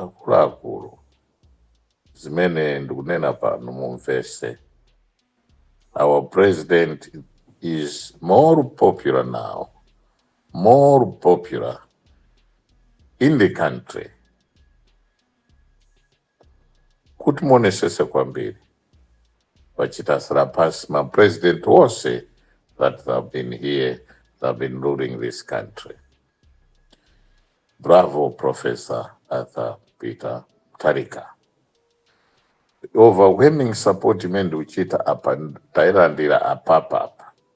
Akuluakulu, zimene ndikunena pano mumvese. Our president is more popular now, more popular in the country Kuti muonesese kwambiri wachita surpass ma president wose that they have been here they have been ruling this country. Bravo Professor Arthur Peter Mutharika. Overwhelming support imene ndikuchita apa tailandira apapa apa.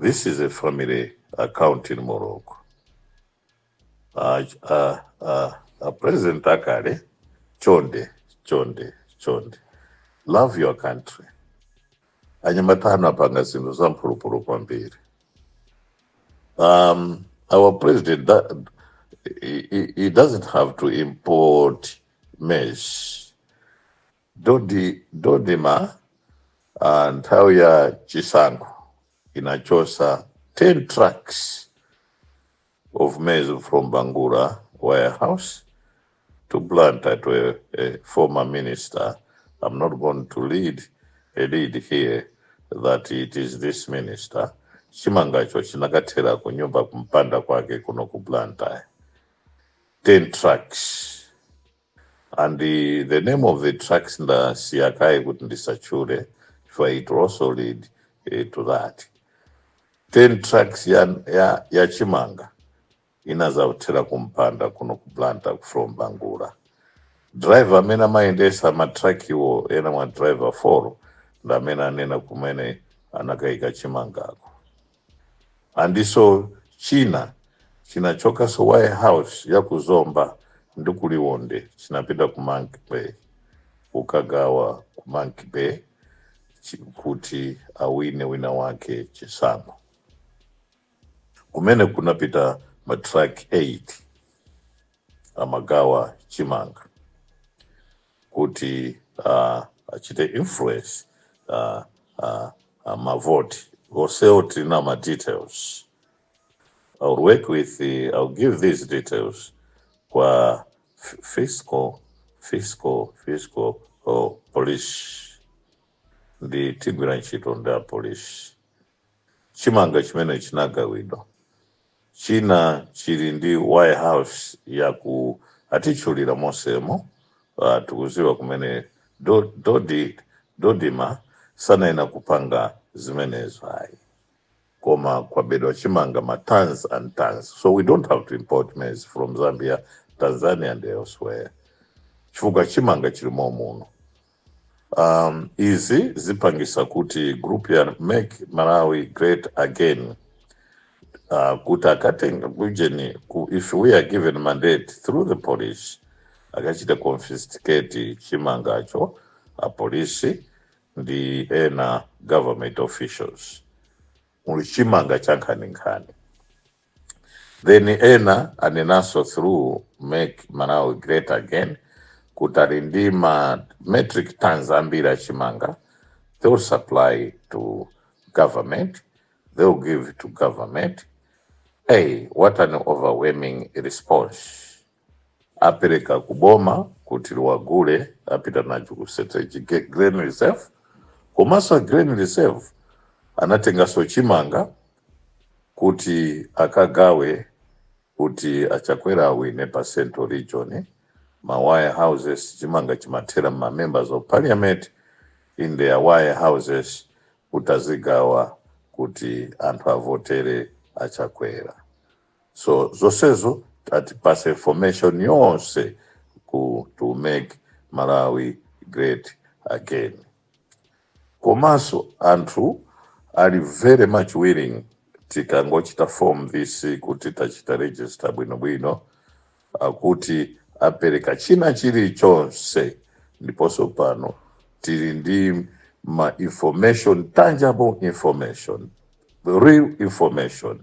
this is a family account in morocco a, a, a, a president akale chonde chonde chonde love your country anyamata anapanga zinthu za mphulupulu kwambiri um, our president that, he, he- he doesn't have to import maize Dod, DoDMA uh, nthawi ya chisankho inachosa 10 trucks of maize from Bangula warehouse to Blantyre to a, a former minister. I'm not going to lead a lead here that it is this minister. Chimangacho chinakathera ku nyumba kumpanda kwake kuno ku Blantyre. 10 trucks And the, the name of the trucks ndasiya kaye kuti ndisatchule for it will also lead eh, to that 10 trucks ya, ya, ya chimanga inazathera kumpanda kuno ku Blantyre from Bangula driver amene amayendesa matrakiwo ena mwa ma driver 4 ndi amene anena kumene anakayika chimangako Andiso china chinachokaso warehouse ya ku Zomba ndi ku Liwonde chinapita ku Monkey Bay kukagawa ku Monkey Bay chi kuti awine wina wake chisankho. Kumene kunapita ma truck 8 amagawa chimanga. kuti uh, achite influence uh, uh, uh, mavoti konseko tili na ma details I'll work with the, I'll give these details kwa f- fiscal fiscal fiscal oh, police ndi tigwira ntchito ndi apolisi Chimanga chimene chinagawidwa china chili ndi warehouse yake atitchulira mosemo uh, tikuziwa kumene do, dodi, dodima sanayenera kupanga zimenezo ayi koma kwabedwa chimanga ma tons and tons so we don't have to import maize from zambia tanzania and elsewhere chifukwa chimanga chili momuno Um, izi zipangisa kuti group ya make Malawi great again uh, kuti akatenga kujeni ku, if we are given mandate through the police akachita confiscate chimangacho apolisi ndi ena government officials muli chimanga cha nkhaninkhani then ena anenanso through make malawi great again kuti ali ndi ma metric tons ambiri a chimanga they will supply to government they will give to government hey what an overwhelming response apereka ku boma kuti liwagule apita nacho ku strategic grain reserve komanso a grain reserve anatenganso chimanga kuti akagawe kuti achakwera awine pa central region ma warehouses chimanga chimathera m'ma members of parliament in their warehouses kuti azigawa kuti anthu avotere achakwera so zosezo atipase information yonse ku to make malawi great again komanso anthu are very much willing tikangochita form this kuti tachita register bwinobwino akuti apereka china chilichonse ndiponso pano tili ndi ma information tangible information real information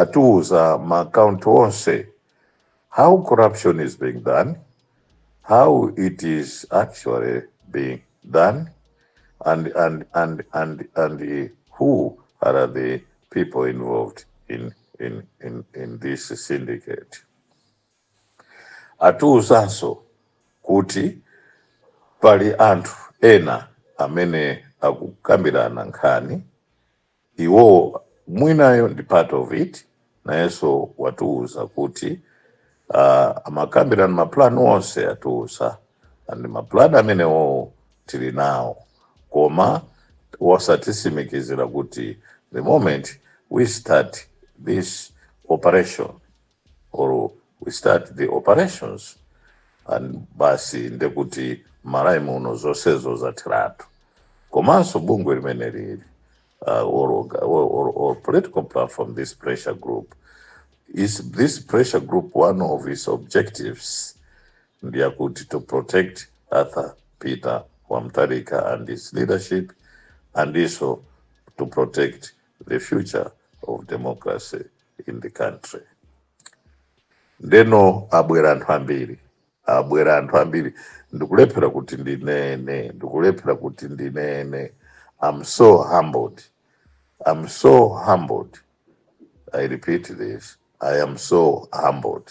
atiuza ma account onse how corruption is being done how it is actually being done and and and and and who are the people involved in in in, in this syndicate atiuzanso kuti pali anthu ena amene akukambirana nkhani Iwowo winayo ndi part of it nayenso watiuza kuti uh, amakambirana ma plan onse atiuza and ma plan amenewowo tili nawo koma watitsimikizira kuti the moment we start this operation or we start the operations and basi ndekuti malawi muno zonsezo zatheratu komanso bungwe limene lili uh, or, or, or, or political platform this pressure group is this pressure group one of its objectives ndiyakuti to protect arthur peter wamtarika and his leadership and also to protect the future of democracy in the country ndeno abwera anthu ambiri abwera anthu ambiri ndikulephera kuti ndinene ndikulephera kuti ndinene i'm so humbled i'm so humbled i repeat this i am so humbled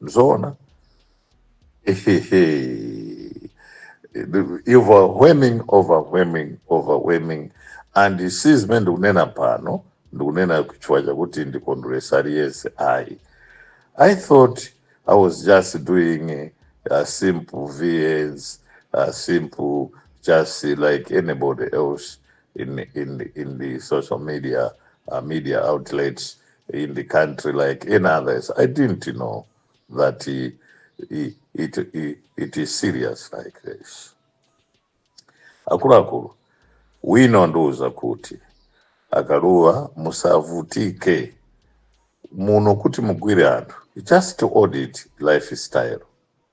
Ndizoona. overwhelming overwhelming overwhelming and si zimene ndikunena pano ndikunena chifukwa chakuti ndikondweresa aliyense ayi i thought i was just doing a, a simple VNs a simple just like anybody else in in in the social media uh, media outlets in the country like any others. I didn't know that it is serious like this. Akuluakulu, wina wandiuza kuti akaluwa musavutike muno kuti mugwire anthu just to audit lifestyle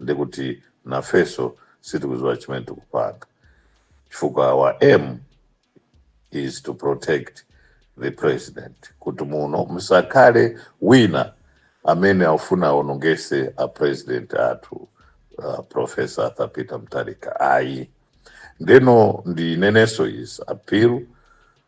ndi kuti nafeso sitikuziwa chimene tikupanga chifukwa our aim is to protect the president kuti muno musakhale wina amene afuna aonongese a president athu uh, professor arthur peter mutharika ayi ndeno ndi ineneso is appeal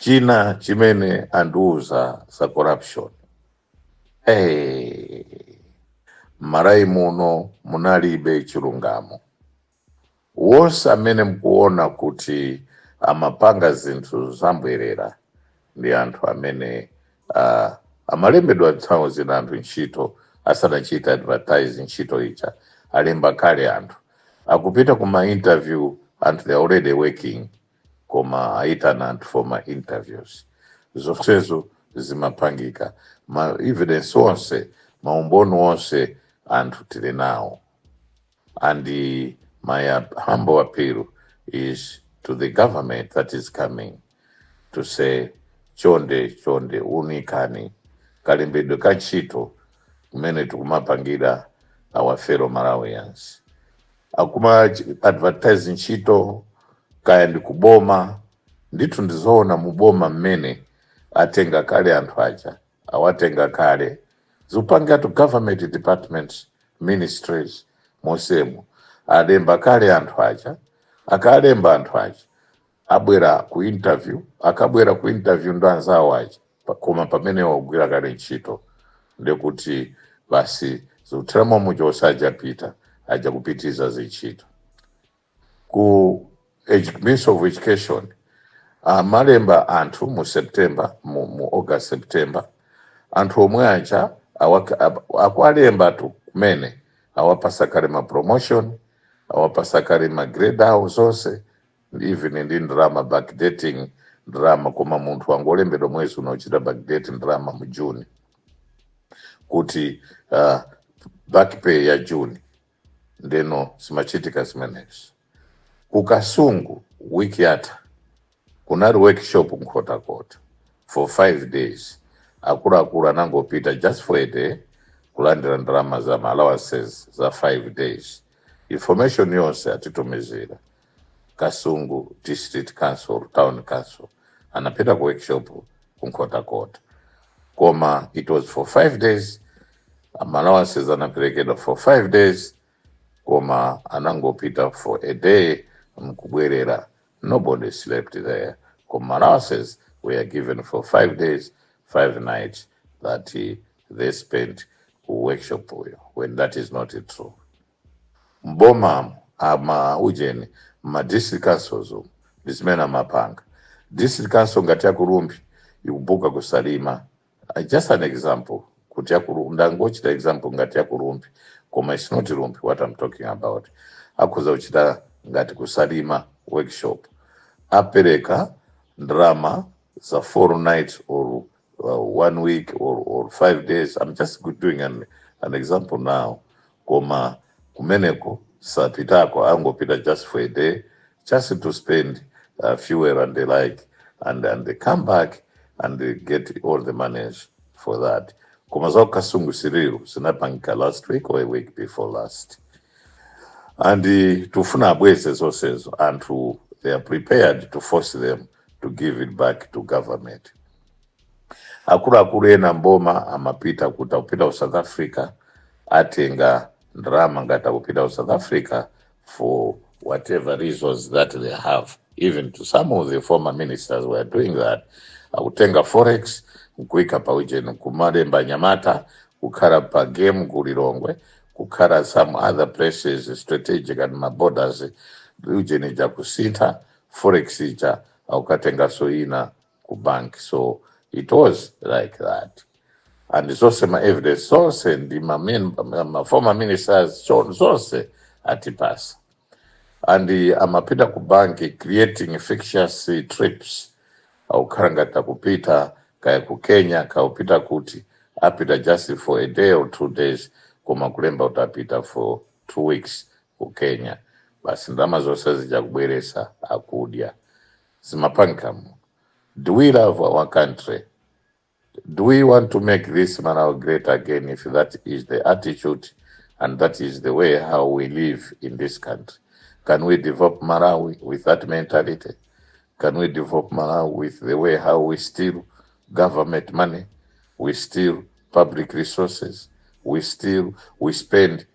china chimene andiuza za corruption hey, m'malawi muno munalibe chilungamo wonse amene mkuona kuti amapanga zinthu zambwerera ndi anthu amene uh, amalembedwa nthawi zina anthu ntchito asanachita advertise ntchito ija alemba kale anthu akupita ku ma interview anthu they are already working koma ayitana anthu for ma interviews zonsezo zimapangika ma evidence onse maumboni onse anthu tili nawo and uh, my uh, humble appeal is to the government that is coming to say chonde chonde unikani kalembedwe ka ntchito kumene tikumapangira our fellow malawians akuma advertise ntchito kaya ndi kuboma ndithu ndizoona muboma mmene atenga kale anthu aja awatenga kale zikupangatu government departments ministries monsemo alemba kale anthu aja akalemba anthu aja abwera ku interview akabwera ku interview ndi anzawo aja pa- koma pamene wagwira kale ntchito ndekuti basi zikutheramo mu June osajapita aja kupitiza zintchito ku edu- ministry of education amalemba anthu mu september mu, mu august september anthu omwe aja awak- ab- akuwalemba tu kumene awapasa kale ma promotion awapasa kale ma grade awo zonse ndi even ndalama backdating ndalama koma munthu wangolembedwa mwezi uno kuchita backdate ndalama mu june kuti uh, back pay ya june ndeno zimachitika zimenezi ku kasungu wiki yatha kunali workshop nkhotakota for five days akuluakulu anangopita just for a day kulandira ndalama za ma allowances za five days information yonse atitumizira Kasungu District Council, Town Council anapita ku workshop ku Nkhotakota, koma it was for five days allowances anaperekedwa for five days koma anangopita for a day mkubwerera nobody slept there koma allowances were given for five days five nights that eh, they spent ku workshop uko when that is not true m'bomamu ma ujeni mma district councils umu ndi zimene amapanga. District council ngati ya ku Rumphi ikubuka ku Salima. Uh, Just an example kuti ya ku Ru- ndangochita example ngati ya ku Rumphi koma it's not Rumphi what I'm talking about. Akhoza kuchita ngati ku Salima workshop apereka ndalama za four nights or uh, one week or, or five days i'm just good doing an, an example now koma kumeneko sapitako angopita just for a day just to spend uh, fuel and the like and, and they come back and they get all the money for that koma za ukasungu siriru zinapangika last week or a week before last and uh, tufuna abweze zonsezo anthu they are prepared to force them to give it back to government akuluakulu ena mboma amapita kuti akupita ku south africa atenga ndalama ngati akupita ku south africa for whatever reasons that they have even to some of the former ministers were doing that akutenga forex nkuika pa ujeni kumalemba anyamata kukhala pa game ku lilongwe kukhala some other places strategic ndi maborders ujeni akusintha forex ija akukatenganso ina ku bank so it was like that and zonse ma evidence zonse ndi ma, men, ma, ma former ministers cho- zonse atipasa and eh, amapita ku banki creating fictitious eh, trips akukhala ngati akupita kaya ku kenya akupita kuti apita just for a day or two days koma kulemba kuti apita for two weeks ku kenya basi ndalama zonse zija kubweresa akudya zimapankam do we love our country do we want to make this malawi great again if that is the attitude and that is the way how we live in this country can we develop malawi with that mentality can we develop malawi with the way how we steal government money we steal public resources we steal we spend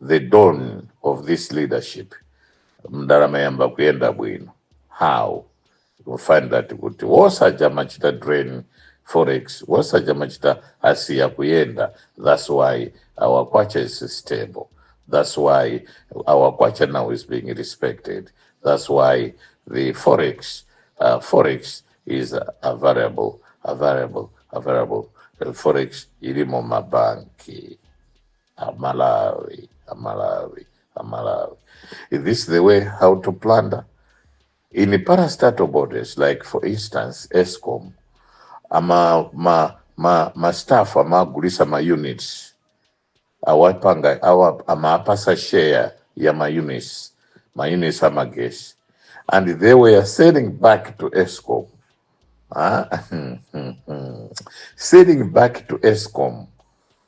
the dawn of this leadership mdalama yamba kuyenda bwino how you find that kuti wosaja machita drain forex wosaja machita asiya kuyenda that's why our kwacha is stable that's why our kwacha now is being respected that's why the forex uh, forex is a variable a variable a variable forex ilimo mabanki Amalawi, Amalawi, Amalawi. Is this the way how to plunder? In the parastatal bodies, like for instance, ESCOM, ama ma ma ma staff amagulisa ma units awapanga awa amapasa share ya ma units ma units amagesi and they were selling back to ESCOM ah, selling back to ESCOM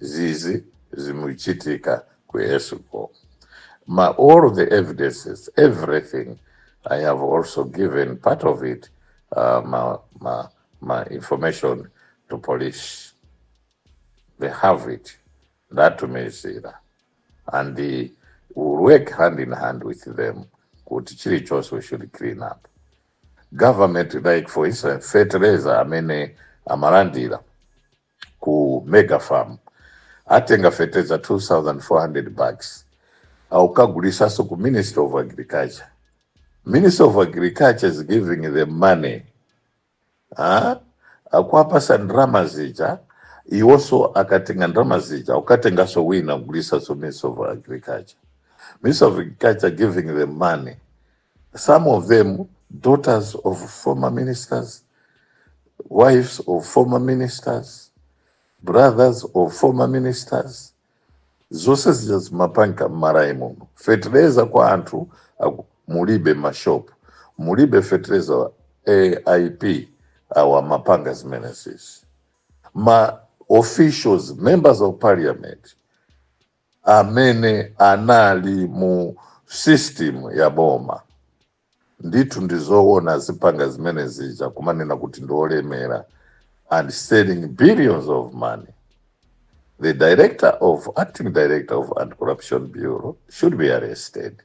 zizi zimuchitika ku escom ma all the evidences everything i have also given part of it uh, ma, ma, ma information to police they have it ndatumizira and we will work hand in hand with them kuti chilichonse we should clean up government like for instance fertilizer amene amalandira ku mega farm atenga feteza 2400 bucks aukagulisaso ku ministry of agriculture ministry of agriculture is giving the money ah, akuapasa ndrama zija iwonso akatenga ndrama zija ukatengaso wina kugulisaso ministry of agriculture ministry of agriculture giving the money some of them daughters of former ministers wives of former ministers brothers of former ministers zonse zija zimapanka m'malawi muno fetereza kwa anthu aku- mulibe mashop mulibe fetereza aip awa amapanga zimenezezi ma officials members of parliament amene anali mu system ya boma ndithu ndizoona zipangano zimene zija kumanena kuti ndiolemera and selling billions of money the director of acting director of anti-corruption bureau should be arrested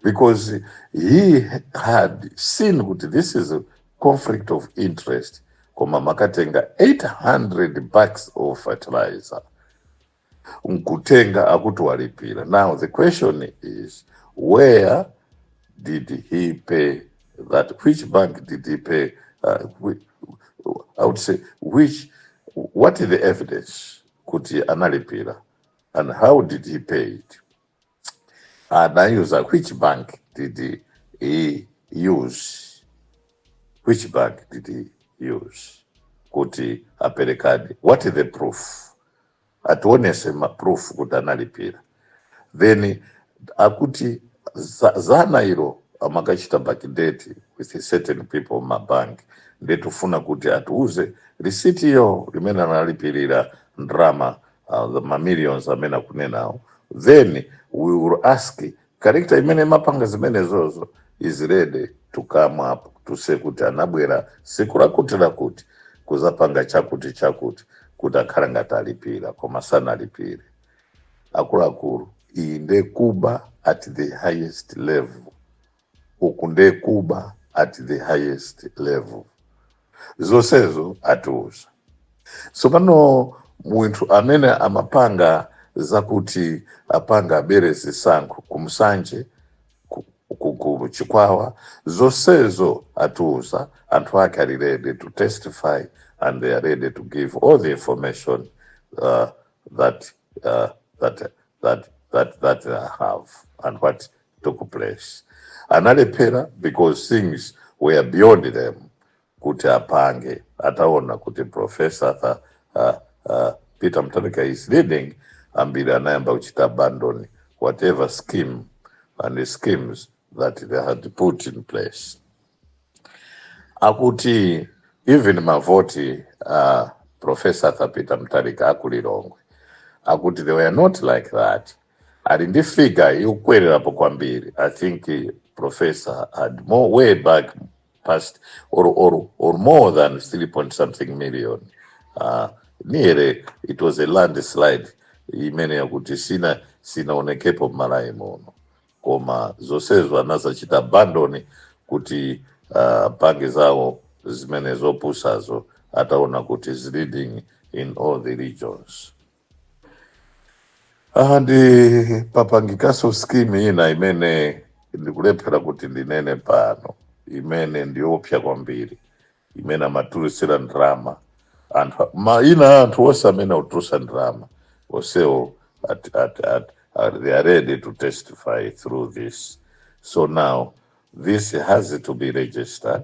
because he had seen kuti this is a conflict of interest koma amakatenga 800 bags of fertilizer nkutenga akuti walipira now the question is where did he pay that which bank did he pay uh, whi- i would say which what is the evidence kuti analipira and how did he pay it anayuser ah, which bank did he, he use which bank did he use kuti aperekadi what is the proof atiwonetse maproof kuti analipira then akuti dzana ilo amakachita backdate with certain people mumabank nde tikufuna kuti atiuze risitiyo limene analipirira ndalama uh, the mamillions amene akunenawo then we will ask character imene imapanga zimenezozo is ready to come up to say kuti anabwera siku lakuti lakuti kudzapanga chakuti chakuti kuti akhala ngati alipira koma sanalipire akuluakulu iyi nde kuba at the highest level uku nde kuba at the highest level zonsezo atiuza tsopano munthu amene amapanga zakuti apange abere zisankho ku nsanje ku- ku- ku chikwawa zonsezo atiuza anthu ake ali ready to testify and they are ready to give all the information uh, that, uh, that, that, that, that they have and what took place analephera because things were beyond them kuti apange ataona kuti professor uh, uh, uh, peter mutharika is leading ambiri anayamba kuchita abandon whatever scheme and the schemes that they had put in place akuti even mavoti uh, professor arthur peter mutharika aku lilongwe akuti they were not like that ali ndi figure yokwererapo kwambiri i think eh, professor had more way back past or, or, or more than 3 point something million uh, nearly it was a landslide imene yakuti sina sinaonekepo Malawi muno koma zonsezo anazachita abandon kuti uh, pange zawo zimene zopusazo ataona kuti is leading in all the regions and papangikanso scheme ina imene ndikulephera kuti ndinene pano imene ndiyopsa kwambiri imene amatulusira ndalama anthu maina anthu onse amene akutulusa ndalama onsewo they are ready to testify through this so now this has to be registered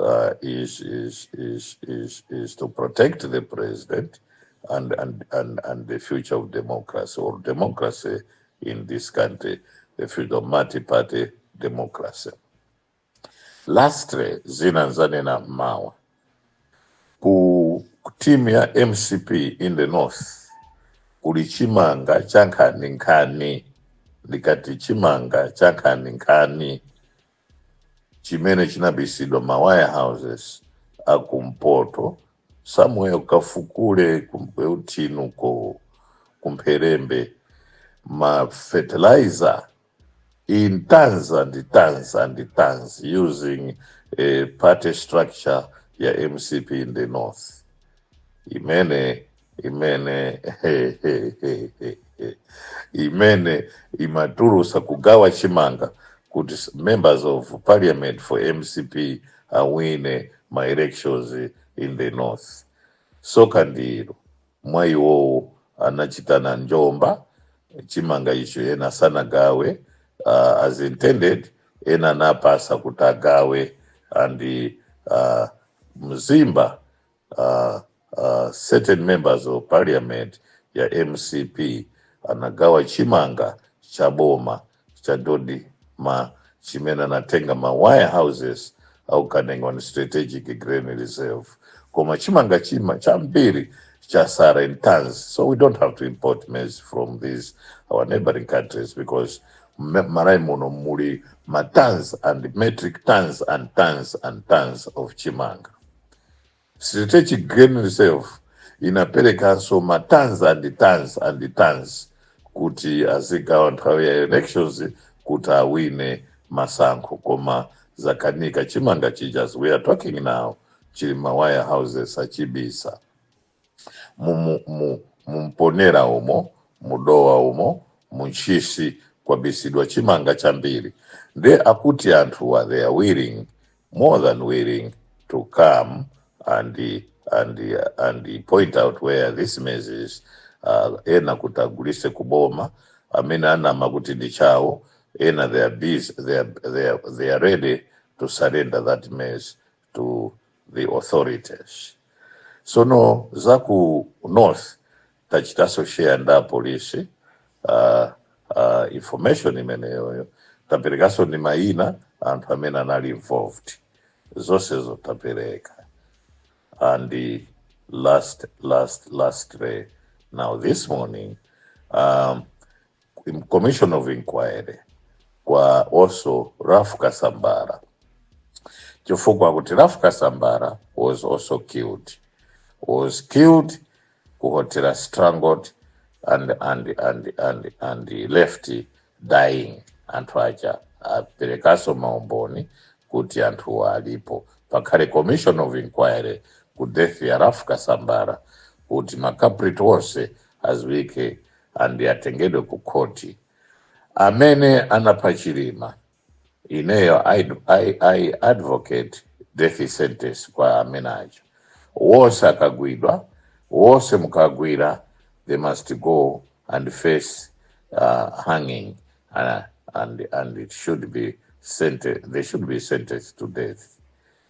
uh, is, is to protect the president and the future of democracy or democracy in this country, the future of multi-party democracy. Lastly, zina ndanena mmawa ku team ya mcp in the north kuli chimanga cha nkhaninkhani ndikati chimanga cha nkhaninkhani chimene chinabisidwa ma warehouses akumpoto somewhere ukafukule kuthinu ko kumpherembe ma fertilizer in tons and tons and tons using a party structure ya mcp in the north imene imene imene imatulusa kugawa chimanga kuti members of parliament for mcp awine ma elections in the north tsoka ndilo mwa iwowo anachitana njomba chimanga icho ena sanagawe uh, as intended ena anapatsa kuti agawe and uh, mzimba uh, uh, certain members of parliament ya mcp anagawa chimanga cha boma cha DoDMA chimene anatenga ma warehouses a ku Kanengo strategic grain reserve koma chimanga chima chambiri chatsala in tons so we don't have to import maize from these our neighboring countries because me- Malawi muno muli ma tons and metric tons and tons and tons of chimanga Strategic Grain Reserve inaperekanso ma tons and tons and tons kuti azigawa nthawi ya elections kuti awine masankho koma zakanika chimanga chija as we are talking now chili ma warehouses achibisa mu, mu, mu, mu Mponela umo mu Dowa umo mu Ntchisi kwabisidwa chimanga chambiri nde akuti anthuwa they are willing more than willing to come and and and point out where this maize is uh, ena kuti agulise kuboma amene ananama kuti ndi chawo ena they are busy they are, they are, they are ready to surrender that maize to the authorities sono za ku north tachitaso share nda apolisi uh, uh, information imeneyoyo taperekaso ndi mayina anthu amene anali involved zonsezo tapereka and the last last last day now this morning um, in- commission of inquiry kwa also Ralph Kasambara chifukwa kuti Ralph Kasambara was also killed was killed ku hotel strangled and and and and and he left dying anthu aja aperekaso maumboni kuti anthu alipo pakhale commission of inquiry ku death ya Ralph Kasambara kuti makapriti onse adziwike and atengedwe ku khoti amene anapha Chilima ineyo I, I, I advocate death sentence kwa amene aja wonse akagwidwa wonse mukagwira they must go and face uh, hanging uh, and, and it should be sentence, they should be sentenced to death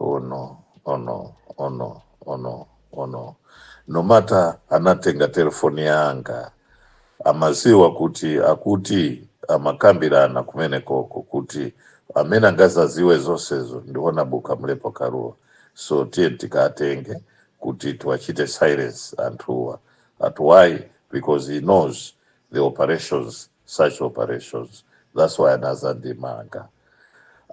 Oh no, oh no, oh no, oh no, oh no. No matter anatenga telefoni yanga amaziwa kuti akuti amakambirana kumene koko kuti amene angazaziwe zonsezo ndi Honourable Kamlepo Kalua so tiye tikatenge kuti tiwachite silence anthuwa ati why because he knows the operations such operations that's why anazandimanga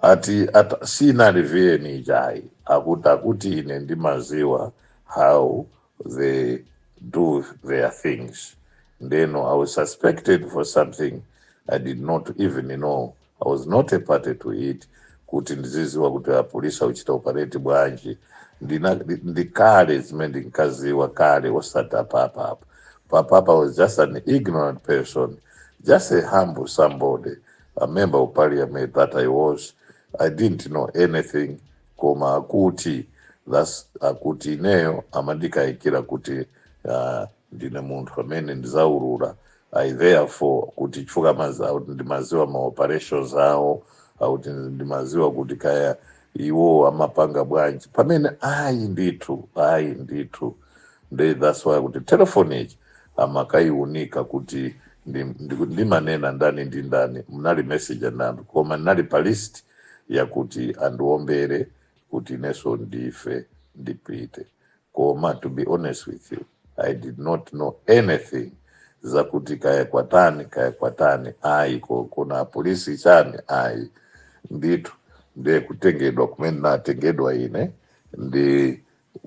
ati ata, sinali viyeni ijayi akuti akuti ine ndimaziwa how they do their things then I was suspected for something i did not even know I was not a party to it kuti ndiziziwa kuti apolisi akuchita operate bwanji ndina ndi ndi kale zimene ndinkaziwa kale osati apapa apa papa I was just an ignorant person just a humble somebody a member of parliament that i was i didn't know anything koma akuti that's akuti ineyo amandikayikira kuti uh, ndine munthu amene ndizaulula i therefore kuti chifukwa amazi- akuti ndimaziwa ma operations awo akuti ndimaziwa kuti kaya iwo amapanga bwanji pamene ayi ndithu ayi ndithu nde that's why kuti telefoni ichi amakayiunika kuti ndi- ndi- ndimanena ndani ndi ndani munali message nandani koma ndinali pa list yakuti andiwombere kuti ineso ndife ndipite koma to be honest with you i did not know anything zakuti kaya kwatani kaya kwatani ayi ko- kuna polisi chani ayi ndithu ndiye kutengedwa kumene natengedwa ine ndi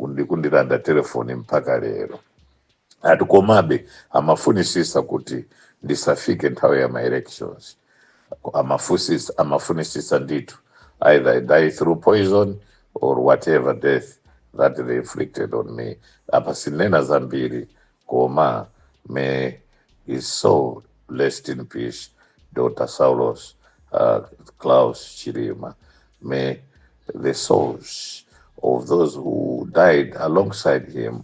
ndikundilanda telefoni mpaka lero ati komabe amafunisisa kuti ndisafike nthawi ya ma elections amafusisa amafunisisa ndithu either I die through poison or whatever death that they inflicted on me apa sinena zambiri koma may his soul rest in peace dr saulos klaus chilima may the souls of those who died alongside him